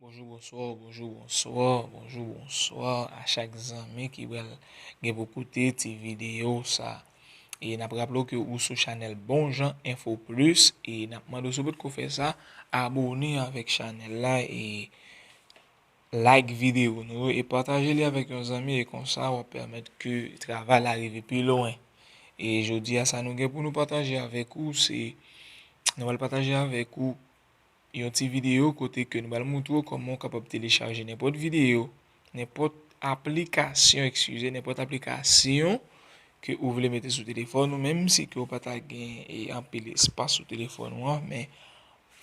Bonjou, bonswa, bonjou, bonswa, bonjou, bonswa a chak zanmi ki bèl gen pou koute ti videyo sa. E nap raple w ke ou sou chanèl Bon Jan Enfo Plis e nap mande w si w potko fè sa, abone avèk chanèl la e like videyo nou yo e pataje li avèk yon zanmi e konsa wap pèmèt ke travay la rive pi lwen. E jodi a sa nou gen pou nou pataje avèk ou se nou pral pataje avèk ou Yon ti videyo kote ke nou pral moutre w kòman ou kapab telechaje nenpòt videyo, nenpòt aplikasyon, ekskize, nenpòt aplikasyon ke ou vle mete sou telefòn ou, menm si ke ou pa ta gen e anpil espas sou telefòn ou an, men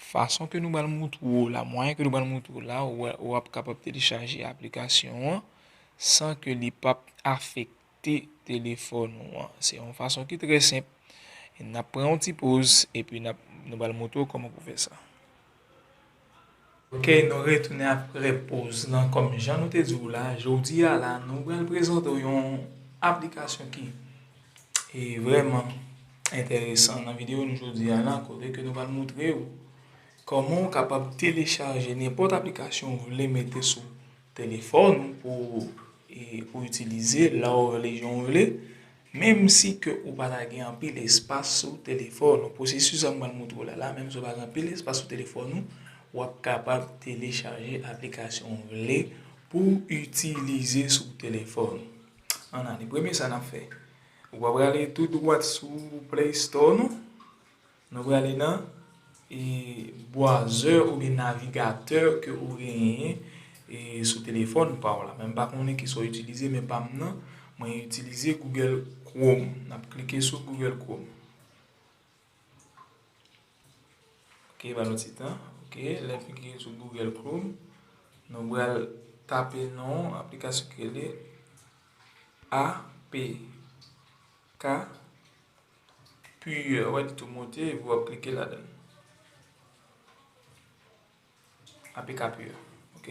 fason ke nou pral moutre w la, mwayen ke nou pral moutre w la, ou ap kapab telechaje aplikasyon an san ke li pap afekte. konekte telefòn ou an. Se yon fason ki trè senp. N ap pran yon ti poz epi n ap nou pral montre w kòman pou w fè sa. Ok, nou retounen aprè poz lan. Kòm jan nou te di w la, jodi a la nou pral prezante w yon aplikasyon ki vrèman enteresan nan videyo nou jodi a la. Kote ke nou pral montre w kòman ou kapab telechaje nenpòt aplikasyon ou vle mete sou. Telefòn ou pou ou itilize la ou rele jan ou rele, menm si ke ou pa ta gen anpil espas sou telefòn ou, pwosesis sa m pral montre w la la, menm si ou pa gen anpil espas sou telefòn ou, w ap kapab telechaje aplikasyon ou vle pou w itilize sou telefòn. Ann ale, premye sa n ap fè, ou va prale tou dwat sou play store nou. Nou prale nan e browser oubyen navigateur ke ou genyen e sou telefòn pa w la. Men m pa konnen ki sa w itilize men pa m nan mwen itilize Google Chrome. N ap klike sou Google Chrome. Ok ba nou ti tan. Ok lè n fin klike sou Google Chrome nou pral tape non aplikasyon ki rele APK. Pu wè li tou moute vu wap klike ladann. Apk pu ok.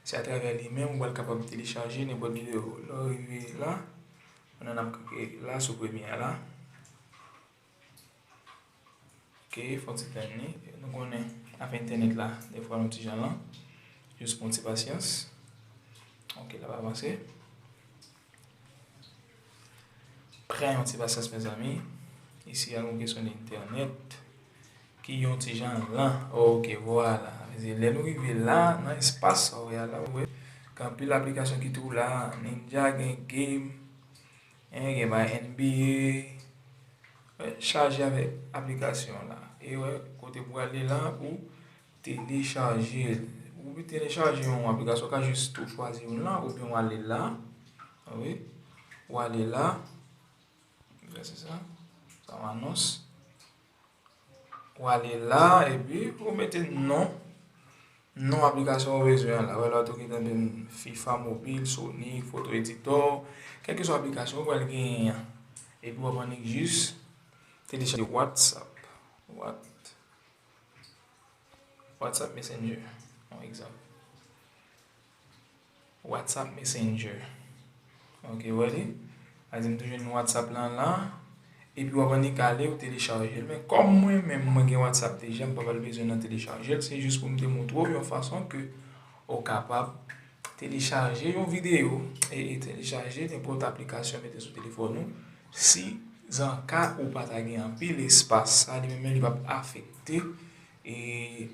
Se atravè li menm ou pral kapab telechaje nenpòt video. Lè w rive la, nan nap klike la sou premye a la. Ok fon ti tann li. Nou konnen avè entènèt la defwa l yon ti jan lan. Jis pran ti pasyans. Ok lap avanse. Pran yon ti pasyans mezanmi. Isi a yon kesyon internet. Ki yon ti jan lan. Ok, vwala. Mezi lè nou rive la, nan espas sa wè a la wè. Kan pil aplikasyon ki tou la. Ninja gen game. En gen bay NBA. Chaje avè aplikasyon la. E wè, kote pou wale la pou. Telechaje l. Ou vle telechaje yon aplikasyon, ou ka jis tou chwazi youn lan oubyen w ale la. Ou wè? Ou ale la. Vè se sa. Sa w anons. Ou ale la epi ou mete non. Non aplikasyon ou bezwen an la. Wè la ou tou gen tanbe m FIFA mobil, Sony, foto editò. Kèlke swa aplikasyon ou pral genyen an. Epi w ap annik jis telechaje Whatsapp. Whatt. WhatsApp Messenger yon egzanp. WhatsApp Messenger. Ok, wè li. Azi m toujou yon WhatsApp lan la. E pi wap annik ale ou telechaje. Men kòm mwen men mwen gen WhatsApp deja m pa pral bezwen nan telechaje. Se jous pou m te montre w yon fason ke ou kapab. Telechaje yon videyo e telechaje nenpòt aplikasyon mete sou telefòn ou, si zanka ou pa ta gen anpil espas sa li menm men li pap afekte e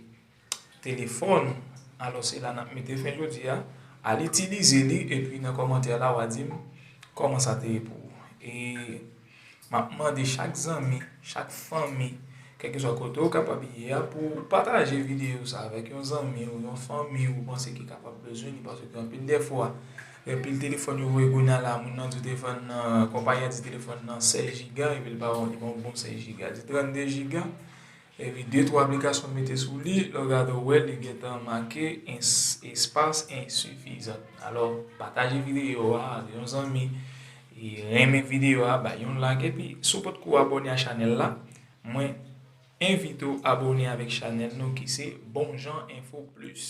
telefòn ou alò se la nap mete fen jodi a al itilize li epi nan kòmantè la wa dim kòman sa te ye pou ou e Map mande chak zanmi, chak fanmi, kèlkeswa kote ou kapab ye a pou ou pataje videyo sa avèk yon zanmi ou yon fanmi ou panse ki kapab bezwen li paske gen anpil dèfwa gen pil telefòn yo voye kounye a la moun nan di telefòn nan konpayi a di telefòn nan 16 jiga epi li pa bon li pa bon 16 jiga li di 32 jiga Epi de twa aplikasyon mete sou li, lè w gade w wè li gentan make espas ensifizan. Alò pataje videyo a ak yon zanmi, renmen videyo a, bay yon like epi si w potko abone a chanèl la, mwen envite w abone avèk chanèl nou ki se Bon Jan Enfo Plis.